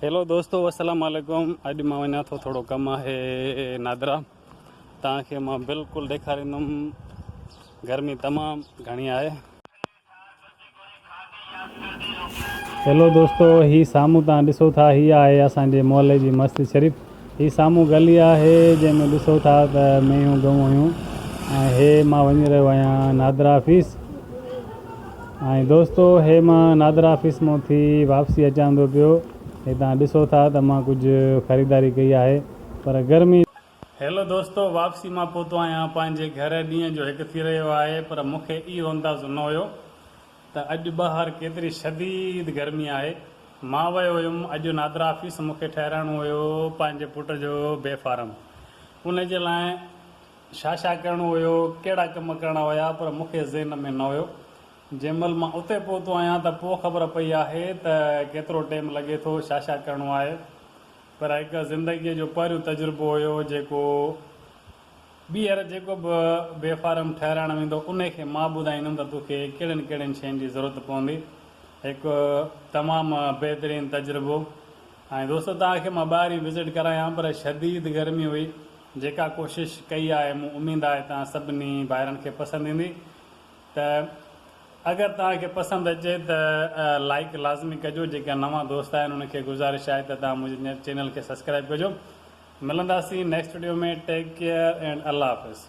Hello دوستو السلام عليڪم اڄ مان وڃان ٿو ٿورو ڪم آهي نادرا تان کي مان بلڪل ڏيکاريندم گرمي تمام گهڻي آهي هيلو دوستو هي سامهون تان ڏسو ٿا هي آهي اسان جي محلي جي مسجد شريف هي سامهون گلي آهي، جنهن ۾ ڏسو ٿا ته مينهون ڳئون هيون ۽ هي مان وڃي رهيو آهيان نادرا آفيس ۽ دوستو هي مان نادرا آفيس مون ٿي واپسي اچان ٿو پيو هي تان ڏسو ٿا ته مان ڪجهه خريداري ڪئي آهي پر گرمي هيلو دوستو واپسي مان پهتو آهيان پنهنجي گهر ڏينهن جو هڪ ٿي رهيو آهي پر مون کي اهو اندازو نه هيو ته اڄ ٻاهر ڪيتري شديد گرمي آهي. مان ويو هيم اڄ نادرا آفيس مون کي ٺهرائڻو هيو پنهنجي پٽ جو بي فارم. ان جي لاء ڇا ڇا ڪرڻو هيو، ڪهڙا ڪم ڪرڻا هيا پر مون کي ذهن ۾ نه هيو. جنهن مهل مان اتي پهتو آهيان ته پوء خبر پئي آهي ته ڪيترو ٽيم لڳي ٿو ڇا ڇا ڪرڻو آهي. پر هڪ زندگيء جو پهريون تجربو هيو جيڪو. ٻيهر جيڪو به بي فارم ٺهرائڻ ويندو انهي کي مان ٻڌائيندم ته تو کي ڪهڙين ڪهڙين شين جي ضرورت پوندي. هڪ تمام بهترين تجربو ۽ دوستو توهان کي مان ٻاهرين وزٽ ڪرايان پر شديد گرمي هئي جيڪا ڪوشش ڪئي آهي مون اميد آهي توهان سڀني ڀائرن کي پسند ايندي. ته اگر توهان کي پسند اچي ته لائيڪ لازمي ڪجو جيڪا نوان دوست آهن ان کي گذارش آهي ته توهان منهنجي چينل کي سبسڪرائيب ڪجو ملنداسين next video ۾ take care and الله حافظ.